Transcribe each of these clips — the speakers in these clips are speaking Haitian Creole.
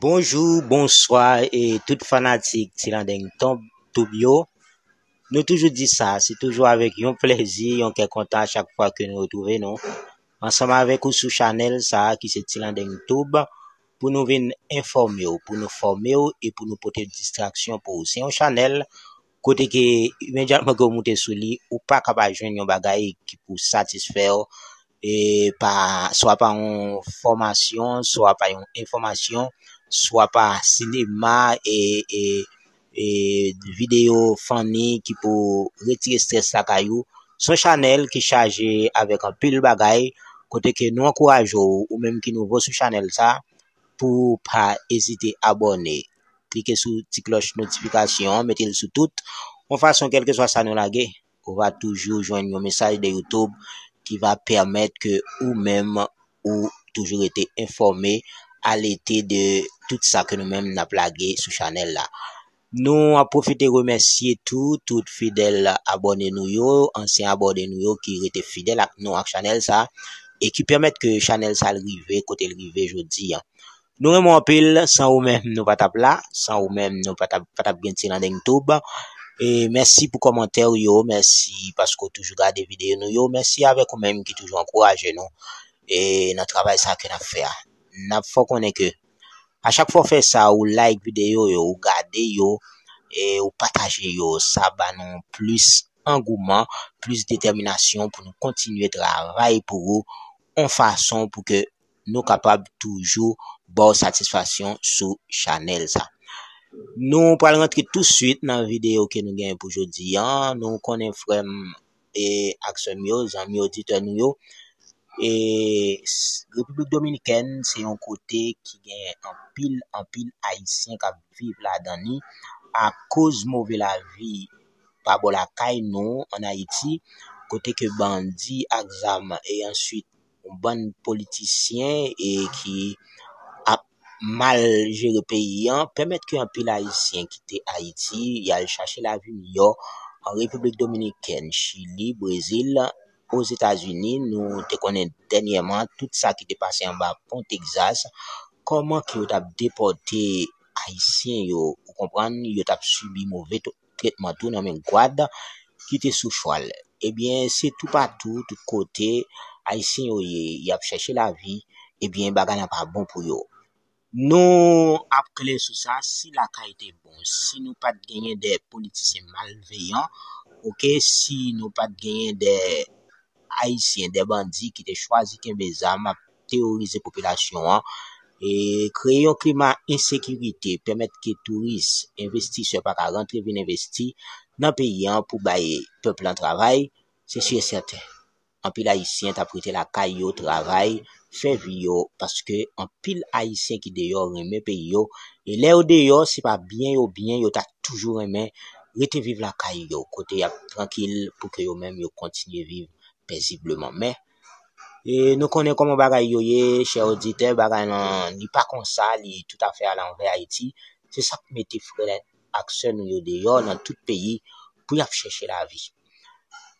Bonjou, bonswa e tout fanatik Tilandeng Tonp Toub yo. Nou toujou di sa, se toujou avèk yon plèzi, yon kè kontan chak fwa ke nou retrouve nou. Ansanm avèk ou sou chanèl sa ki se Tilandeng Toub pou nou vin enfòme ou, pou nou fòme ou e pou nou pote distraksyon pou ou. Se yon chanèl Kote ke imedyatman ke ou moute sou li, ou pa ka pa jwenn yon bagay ki pou satisfè ou, e pa, swa pa yon fòmasyon, swa pa yon enfòmasyon, swa pa sinema, e, e, e videyo fanni ki pou retire strès lakay ou. Son chanèl ki chaje avèk anpil bagay, kote ke nou ankouraje ou, ou menm ki nouvo sou chanèl sa, pou pa ezite abòne. Klike sou ti klòch notifikasyon an, mete l sou tout. Yon fason, kèlkeswa sa nou lage, ou va toujou jwenn yon mesaj de YouTube ki va pèmèt ke ou menm ou toujou rete enfòme, alete de tout sa ke nou menm n ap lage sou chanèl la. Nou ap pwofite remèsye tou tout fidèl abòne nou yo, ansyen abòne nou yo ki rete fidèl ak nou ak chanèl sa e ki pèmèt ke chanèl sa rive kote l rive jodi an. Nou renmen w anpil, san ou menm nou pa t ap la, san ou menm nou pa t ap gen Tilandeng Tube. E mèsi pou kòmantè ou yo, mèsi paske ou toujou gade videyo nou yo, mèsi avèk ou menm ki toujou ankouraje nou e nan travay sa ke n ap fè a. N ap fè w konnen ke a chak fwa ou fè sa, ou like videyo yo, ou gade yo e ou pataje yo, sa ba nou plis angouman, plis detèminasyon pou nou kontinye travay pou ou yon fason pou ke nou kapab toujou baw satisfaksyon sou chanèl sa. Nou pral rantre tou swit nan videyo ke nou gen pou jodi an, nou konnen frèm e ak sèm yo, zanmi oditè nou yo, e Repiblik Dominikèn se yon kote ki gen anpil anpil ayisyen kap viv ladan li akoz move lavi pa bò lakay nou an Ayiti kote ke bandi ak zam e answit yon bann politisyen e ki ap mal jere peyi an pèmèt ke anpil ayisyen kite ayiti yal chache lavi miyò an République Dominicaine, Chili, Brésil, Ozetazini nou te konnen dènyèman tout sa ki te pase anba pon Texas kòman ke yo tap depòte ayisyen yo ou konprann yo tap sibi move tretman tou nan men gad ki te sou chwal. Ebyen se tou patou, tout kote ayisyen yo ye, y ap chèche lavi, ebyen bagay lan pa bon pou yo. Nou ap klè sou sa, si lakay te bon, si nou pa t genyen de politisyen malveyan, ok, si nou pa t genyen de ayisyen, de bandi ki te chwazi kenbe zam, teworize popilasyon an, kreye yon klima ensekirite, pèmèt ke touris, envestisè pa ka rantre vin envesti nan peyi an pou bay pèp lan travay, se si e sèten, anpil Ayisyen t ap rete lakay yo, travay, fè vi yo, paske anpil Ayisyen ki deyò renmen peyi yo, e lè yo deyò, se pa byen yo byen, yo ta toujou renmen rete viv lakay yo, kote y ap trankil, pou ke yo menm yo kontinye viv pèzibleman. Men. E nou konnen kòman bagay yo ye, chè oditè, bagay lan li pa konsa, li tout a fè a lanvè Ayiti. Se sak mete frè ak sè nou yo deyò nan tout peyi pou yap chèche lavi.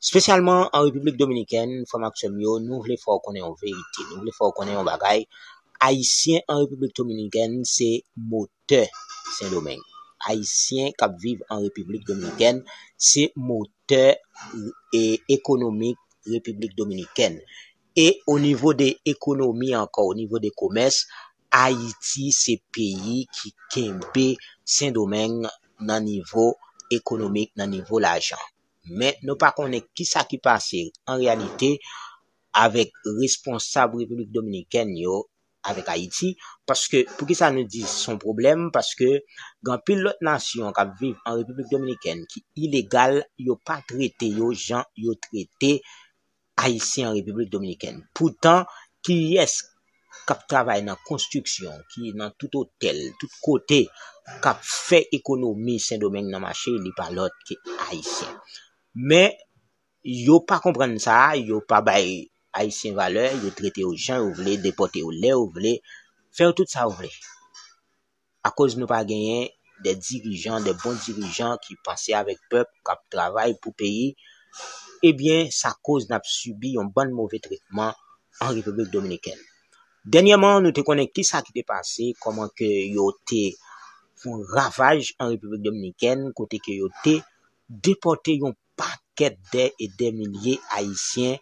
Spesyalman an Repiblik Dominikèn, frè m ak sè m yo, nou vle fè w konnen yon verite, nou vle fè w konnen yon bagay, Ayisyen an Repiblik Dominikèn se mo Doktè Sendomeng. Ayisyen k ap viv an Repiblik Dominikèn se motè ekonomik Repiblik Dominikèn. E o nivo de ekonomi ankò, o nivo de komès, Ayiti se peyi ki kenbe Sendomeng nan nivo ekonomik, nan nivo lajan. Men nou pa konnen ki sa ki pase an reyalite avèk responsab Repiblik Dominikèn yo avèk Ayiti, paske, poukisa nou di se yon pwoblèm, paske gen anpil lòt nasyon k ap viv an Repiblik Dominikèn ki ilegal, yo pa trete yo jan yo trete Ayisyen an Repiblik Dominikèn. Poutan, kiyès k ap travay nan konstriksyon, ki nan tout otèl, tout kote, k ap fè ekonomi Sendomeng nan mache, li pa lòt ke Ayisyen. Men, Yo pa konprann sa, yo pa bay Ayisyen valè, yo trete yo jan yo vle, depòte yo lè yo vle, fè yo tout sa yo vle. Akoz nou pa genyen de dirijan, de bon dirijan ki panse avèk pèp, k ap travay pou peyi, ebyen sa koz n ap sibi yon bann move tretman an Repiblik Dominikèn. Dènyèman nou te konnen ki sa ki te pase, kòman ke yo te fon ravaj an Repiblik Dominikèn, kote ke yo te depòte yon. pakèt dè e dè milye ayisyen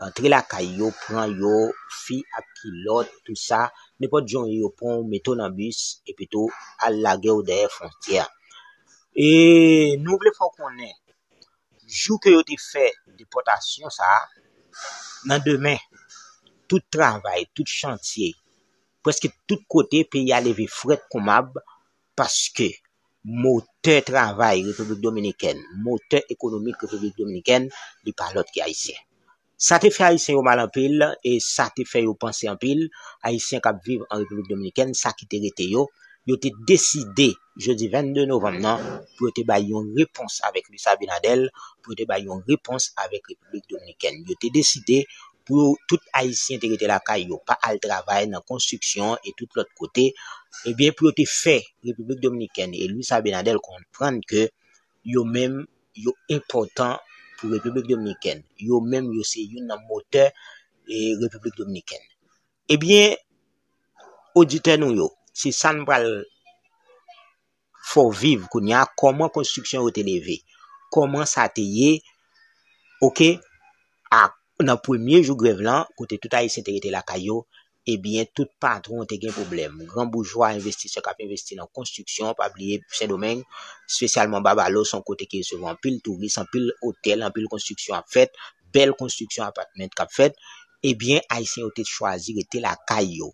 antre lakay yo pran yo fi ak kilòt tou sa nenpòt jan yo pran w mete w nan bis epi tou al lage w dèyè fwontyè a e nou vle fè w konnen jou ke yo te fè depòtasyon sa nan demen tout travay tout chantye prèske tout kote peyi a leve frèt kou mab Paske, motè travay Repiblik Dominikèn, motè ekonomik Repiblik Dominikèn, li pa lòt ke Ayisyen. Sa te fè Ayisyen yo mal anpil, e sa te fè yo panse anpil, Ayisyen kap viv an Repiblik Dominikèn, sa ki te rete yo, yo te deside, jodi 22 novanm nan, pou yo te bay yon repons avèk Luis Abinader, pou yo te bay yon repons avèk Repiblik Dominikèn. Yo te deside pou yo tout ayisyen te rete lakay yo pa al travay nan konstriksyon e tout lòt kote ebyen pou yo te fè repiblik dominikèn e Luis Abinader konprann ke yo menm yo enpòtan pou repiblik dominikèn yo menm yo se youn nan motè e repiblik dominikèn ebyen oditè nou yo se sa n pral Fò viv kounye a kòman konstriksyon yo te leve kòman sa te ye ok a nan premye jou grèv lan kote tout ayisyen te rete lakay yo ebyen tout patwon te gen pwoblèm gran boujwa envestisè k ap envesti nan konstriksyon pa bliye sendomeng spesyalman babalo son kote ki resevwa anpil touris anpil otèl anpil konstriksyon ap fèt bèl konstriksyon apatment k ap fèt ebyen ayisyen yo te chwazi rete lakay yo.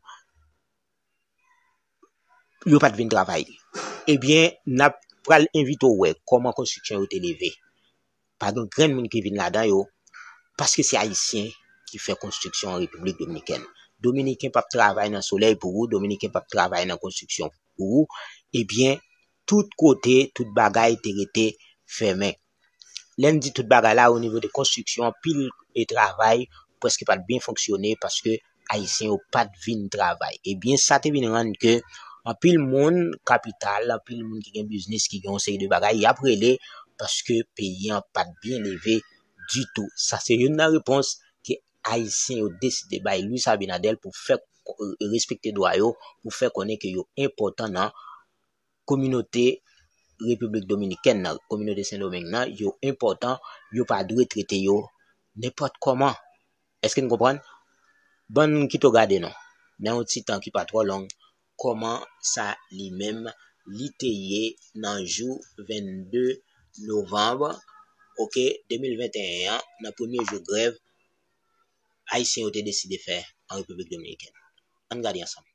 yo pat vin travay ebyen nap pral envite w wè kòman konstriksyon yo te leve pa gen grenn moun ki vin ladan yo paske se ayisyen ki fè konstriksyon an repiblik dominikèn dominiken pap travay nan solèy pou ou dominiken pap travay nan konstriksyon pou ou ebyen tout kote tout bagay te rete fèmen lè n di tout bagay la o nivo de konstriksyon anpil e travay preske pa t byen fonksyone paske ayisyen yo pa t vin travay ebyen sa te vin rann ke anpil moun kapital anpil moun ki gen biznis ki gen yon seri de bagay y ap rele paske peyi an pa t byen leve di tou sa se youn nan repons ke ayisyen yo deside bay Louis Abinader pou fè respekte dwa yo pou fè konnen ke yo enpòtan nan kominote Repiblik Dominikèn nan, kominote Sendomeng nan, yo enpòtan, yo pa dwe trete yo nenpòt kòman. Eske nou konprann? Ban m kite w gade non, nan yon ti tan ki pa twò long, kòman sa li menm li te ye nan jou 22 novanm, ok, 2021 an, nan premye jou grèv Ayisyen yo te deside fè an Repiblik Dominikèn. An n gade ansanm.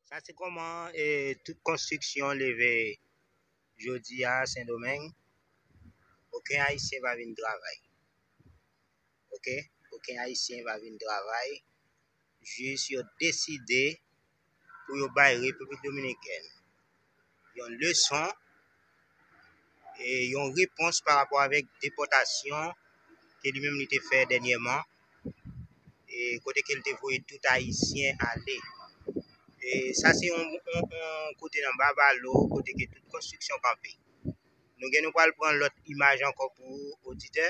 Sa se koman e tout konstriksyon leve jodi a Sendomeng. Oken ayisyen pa vin travay. Ok, oken ayisyen pa vin travay. Jis yo deside pou yo bay Repiblik Dominikèn yon leson e yon repons pa rapò avèk depòtasyon ke li menm li te fè dènyèman e kote ke li te voye tout ayisyen ale. E sa se yon kote nan Bavalo, kote ke tout konstriksyon kanpe. Nou gen nou pral pran lòt imaj ankò pou oditè,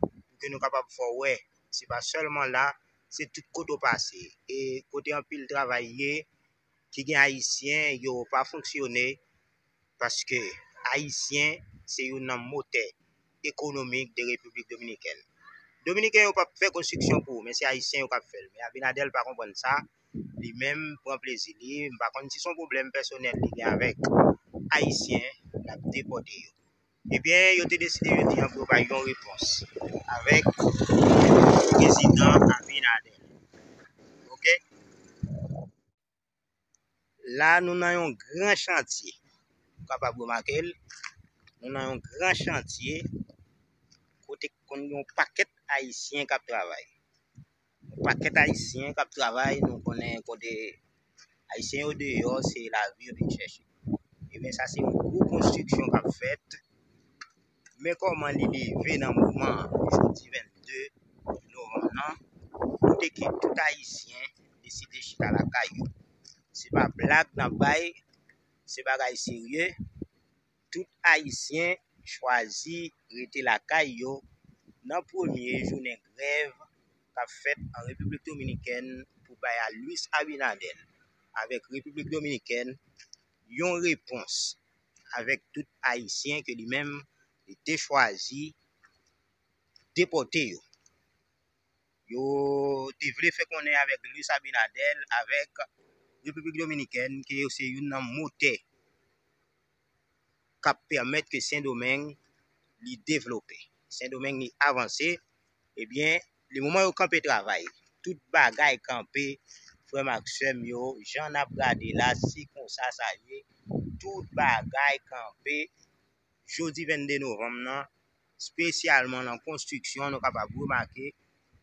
pou ke nou kapab fè w wè, se pa sèlman la, se tout kote ou pase. E kote anpil travay ye, ki gen ayisyen yo pa fonksyone paske ayisyen se youn nan motè ekonomik de repiblik dominikèn dominiken yo pap fè konstriksyon pou men se ayisyen yo kap fèl men abinadèl pa konprann sa li menm pran plezi li m pa konn si son pwoblèm pèsonèl li gen avèk ayisyen lap depote yo. Ebyen yo te deside jodi an pou yo bay yon repons avèk prezidan Abinader. Ok. La nou nan yon gran chantye. Ou kapab remake l. Nou nan yon gran chantye kote konn yon pakèt ayisyen kap travay. Pakèt ayisyen kap travay nou konnen kote ayisyen yo deyò se lavi yo vin chèche ebyen sa se yon gwo konstriksyon kap fèt men kòman li leve nan moman jodi 22 novanm nan kote ke tout ayisyen deside chita lakay yo se pa blag nap bay se bagay serye Tout Ayisyen chwazi rete lakay yo nan premye jounen grèv k ap fèt an Repiblik Dominikèn pou bay a Luis Abinader avèk Repiblik Dominikèn yon repons avèk tout Ayisyen ke li menm li te chwazi depòte yo. yo te vle fè konnen avèk Luis Abinader avèk Repiblik Dominikèn ke yo se youn nan motè k ap pèmèt ke Sendomeng li devlope, Sendomeng li avanse, ebyen lemoman yo kanpe travay, tout bagay kanpe frè m ak sè m yo, jan n ap gade la se konsa sa ye, tout bagay kanpe, jodi 22 novanm nan spesyalman nan konstriksyon nou kapab remake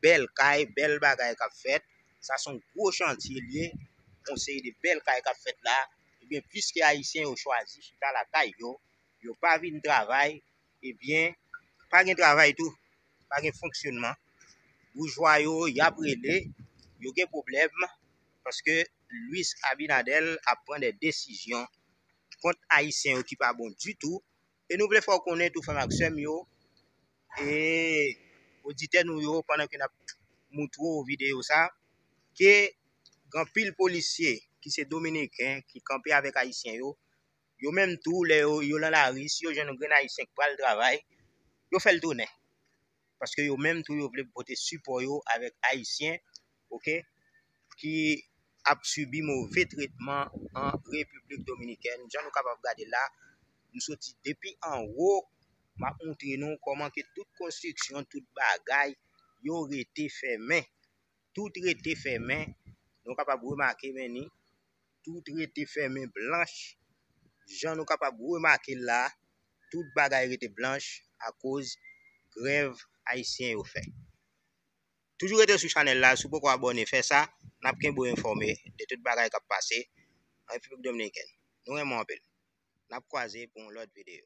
bèl kay, bèl bagay k ap fèt, sa s on gwo chantye l ye, s on seri de bèl kay k ap fèt la, ebyen pliske ayisyen yo chwazi chita lakay yo, yo pa vin travay, ebyen pa gen travay tou, pa gen fonksyonman, boujwa yo y ap rele, yo gen pwoblèm paske Luis Abinader ap pran dè desizyon kont ayisyen yo ki pa bon ditou. E nou vle fè w konnen tou frè m ak sè m yo e oditè nou yo pandan ke n ap moutre w videyo sa ke gen anpil polisye ki se dominiken ki kanpe avèk ayisyen yo, yo menm tou lè yo lan lari si yo jwenn yon grenn ayisyen k pral travay yo fè l tounen. paske yo menm tou yo vle pote sipò yo avèk ayisyen ok ki ap sibi move tretman an Repiblik Dominikèn jan nou kapab gade la m soti depi an wo m ap montre nou kòman ke tout konstriksyon tout bagay yo rete fèmen tout rete fèmen nou kapab remake men ni Tout rete fèmen blanch. Jan nou kapab remake l la, tout bagay rete blanch akoz grèv ayisyen yo fè. Toujou rete sou chanèl la, si w poko abòne fè sa, n ap kenbe w enfòme de tout bagay k ap pase an Repiblik Dominikèn. Nou renmen w anpil. N ap kwaze pou yon lòt videyo.